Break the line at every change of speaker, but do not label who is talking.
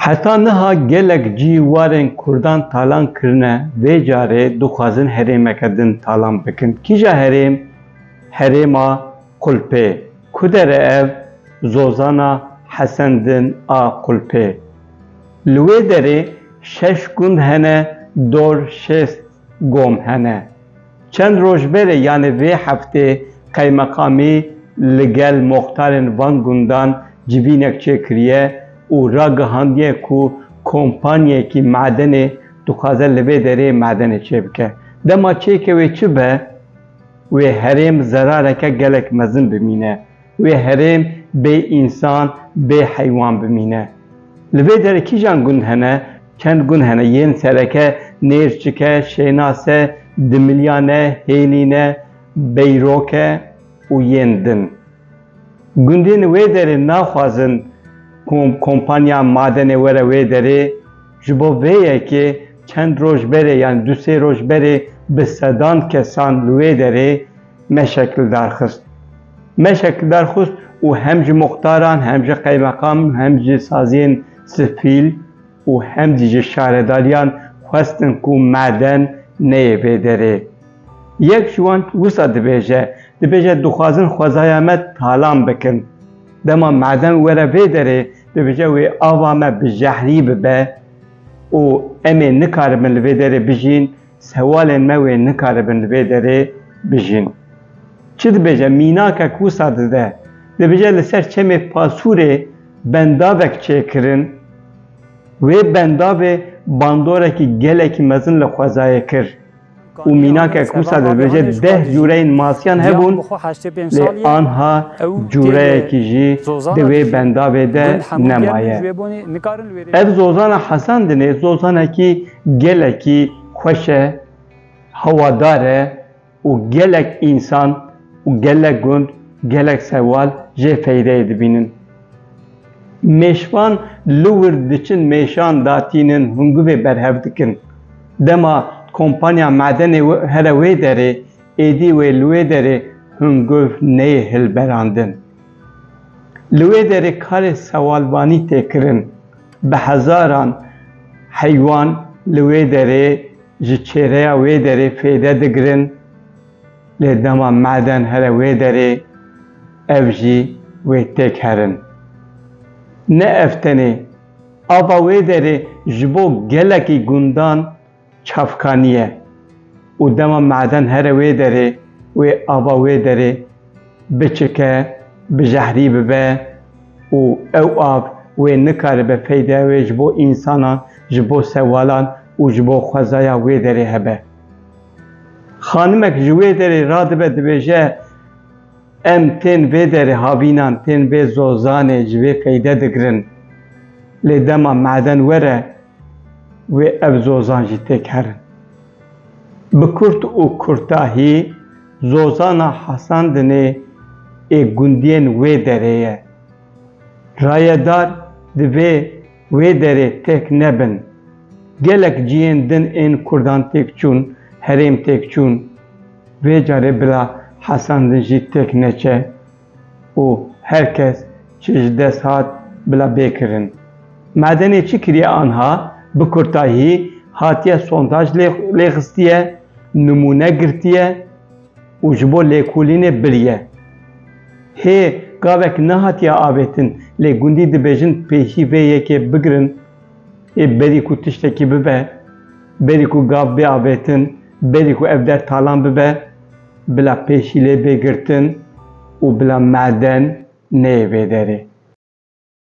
Heta niha gelek cî warên Kurdan talan kirine, vê carê dixwazin herêmeke din talan bikin. Kîja herêm? Herêma Qulpê. Ku dere ev? Zozana Hesen din a Qulpê. Li wê derê şeş gund hene dor şêst Gom hene. Çend roj berê yanê vê heftê qeymeqamî li gel moxtarên van gundan civînek çêkiriye û ragihandiye ku kompanyayekî madenê dixwaze li vê derê madenê çêbike. Dema çêkê wê çi be, wê herêm zerareke gelek mezin bimîne. Wê herêm bê însan, bê heywan bimîne. Li vê derê kîjan gund hene? Çend gund hene, yên sereke Nêrçik e, Şênas e, Dimilyan e, Hêlîn e, Beyrok e û yên din. Gundên wê derê naxwazin ku kompanya madenê were wê derê, ji bo vê yekê çend roj berê yanî du sê roj berê bi sedan kesan li wê derê, me şekildar xist. Me şekildar xist û hem ji muxtaran, hem ji qeymeqam, hem ji saziyên sifîl û hem zî ji şaredariyan xwestin ku maden neyê vê derê. Yek ji wan wisa dibêje, dibêje dixwazin xwezaya me talan bikin. Dema maden were vê derê, dibêje wê ava me bi jehrî bibe û em ê nikarimin li vê derê bijîn, Sewalên me wê nikaribin li vê derê bijîn. Çi dibêje mînakek wisa dide? Dibêje li ser çemê Pasûrê bendavek çêkirin. Wê bendavê bandorekî gelekî mezin li xwezayê kir û mînakek wisa dibêje deh cûreyên masiyan hebûn lê anha cûreyekî jî di wê bendavê de nemaye. Ev zozana Hesan Dinê zozanekî Gelekî xweş e, hewadar e û gelek însan û gelek gund, gelek sewal jê feydeyê dibînin. Mêşvan li wir diçin mêşan datînin hingûvê berhev dikin. Dema kompanya madenê here wê derê, êdî wê li wê derê hingûv neyê hilberandin. Li wê derê karê sewalvanî tê kirin. Bi hezaran heywan li wê derê ji çêreya wê derê fêde digirin lê dema maden here wê derê ev jî wê têk herin. Ne ev tenê, ava wê derê ji bo gelekî gundan çavkaniye û dema maden here wê derê wê ava wê derê biçike bi jehrî bibe û ew av wê nikaribe feydeya wê ji bo însanan, ji bo sewalan û ji bo xwezaya wê derê hebe. Xanimek ji wê derê radibe dibêje em tên vê derê havînan tên vê zozanê ji vê feyde digirin lê dema maden were wê ev zozan jî têk herin. Bi kurt û kurtahî zozana Hasandinê ê gundiyên wê derê ye. Rayedar divê wê derê têk nebin. Gelek cihên din ên kurdan têk çûn, herêm têk çûn. Vê carê bila Hasandin jî têk neçe. û her kes çi ji dest hat bila bê kirin. Madenê çi kiriye anha bi kurtahî hatiye sondaj lê xistiye, nimûne girtiye û ji bo lêkolînê biriye. Hê gavek nehatiye avêtin lê gundî dibêjin pêşî vê yekê bigirin ê berî ku tiştekî bibe, berî ku gav bê avêtin, berî ku ev der talan bibe. bila pêşîlê bê girtin û bila maden neyê vê derê.